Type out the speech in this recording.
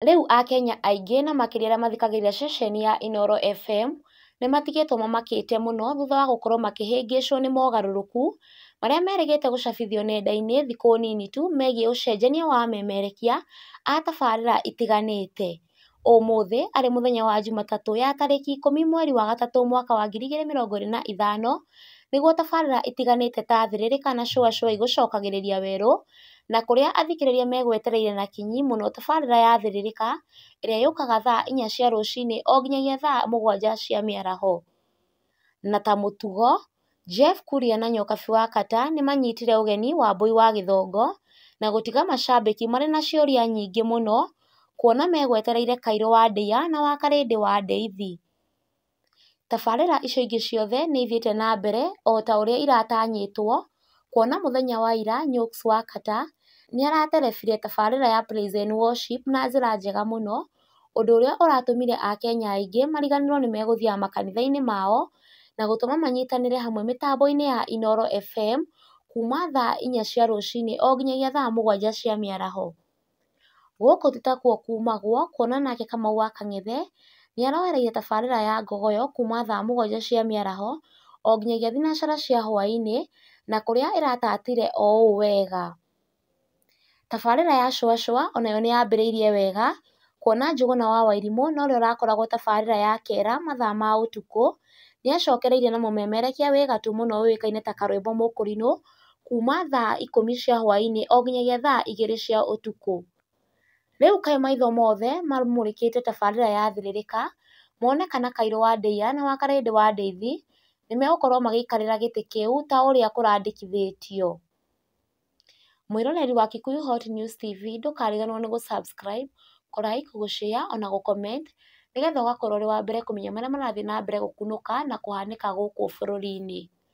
Rĩu Akenya aingĩ na makĩria arĩa mathikagĩrĩria ceceni ya Inooro FM nĩ matigĩtwo mamakĩte mũno thutha wa gũkorũo makĩhĩngĩcwo nĩ mogarũrũku marĩa merĩgĩte gũcabithio nenda-inĩ thikũ nini tu megiĩ ũcenjania wa amemerekia a tabarĩra itiganĩte. Ũmũthĩ arĩ mũthenya wa Jumatatũ ya tarĩki ikũmi mweri wa gatatũ mwaka wa ngiri igĩrĩ mĩrongo ĩrĩ na ithano nĩguo tabarĩra itiganĩte ta Thĩrĩrĩka na Shũa Shũa igũcokagĩrĩria werũ na kũrĩa athikĩrĩria megwetereire na kinyi mũno tabarĩra ya Thĩrĩrĩka ĩrĩa yũkaga thaa inya cia rũcinĩ o nginyagia thaa mũgwanja cia mĩaraho. Na ta mũtugo, Jeff Kuria na Nyokabi wa Kata nĩ maanyitire ũgeni Wambũi wa Gĩthongo na gũtiga macambĩki marĩ na ciũria nyingĩ mũno kuona megwetereire Kairũ wa Ndeiya na Wakarĩndĩ wa Ndeithi. Tabarĩra icio ingĩ ciothe nĩ ithiĩte na mbere o ta ũrĩa iratanyĩtwo, kuona mũthenya wa ira Nyox wa Qatar nĩ araterebire tabarĩra ya Praise and Worship na njĩra njega mũno, ũndũ ũrĩa ũratũmire Akenya aingĩ mariganĩrũo nĩ megũthiaga makanitha-inĩ mao na gũtũma manyitanĩre hamwe mĩtambo-inĩ ya Inooro FM kuuma thaa inya cia rũcinĩ o nginyagia thaa mũgwanja cia mĩaraho. Gũkũ ti takuo kuumagwo, kuona nake Kamau wa Kang'ethe, nĩ aroereire tabarĩra ya ngogoyo kuuma thaa mũgwanja cia mĩaraho o nginyagia thinacara cia hwaĩ-inĩ, na kũrĩa ĩratatire o ũũ wega. Tabarĩra ya Cũa Cũa o nayo nĩ yambĩrĩirie wega, kuona Njũgũna wa Wairimũ na ũrĩa ũrakoragwo tabarĩra ya Kera mathaa ma ũtukũ, nĩ acokereirie na mũmemerekia wĩ gatũ mũno ũĩkaine ta Karwĩmbo Mũkũrinũ, kuuma thaa ikũmi cia hwaĩ-inĩ o nginyagia thaa igĩrĩ cia ũtukũ. Rĩu kaĩ maitho mothe mamũrĩkĩte tabarĩra ya Thĩrĩrĩka, mone kana Kairũ wa Ndeiya na wa Karĩndĩ wa Ndeithi, nĩ megũkorwo magĩikarĩra gĩtĩ kĩu ta ũrĩa kũrandĩkithĩtio? Mwĩroreri wa Kikuyu Hot News TV ndũkariganĩrwo nĩ gũ subscribe, kũ like, gũ share ona gũ comment nĩgetha ũgakorwo ũrĩ wa mbere kũmenya marĩa marathiĩ na mbere gũkunũka na kũhanĩka gũkũ bũrũri-inĩ.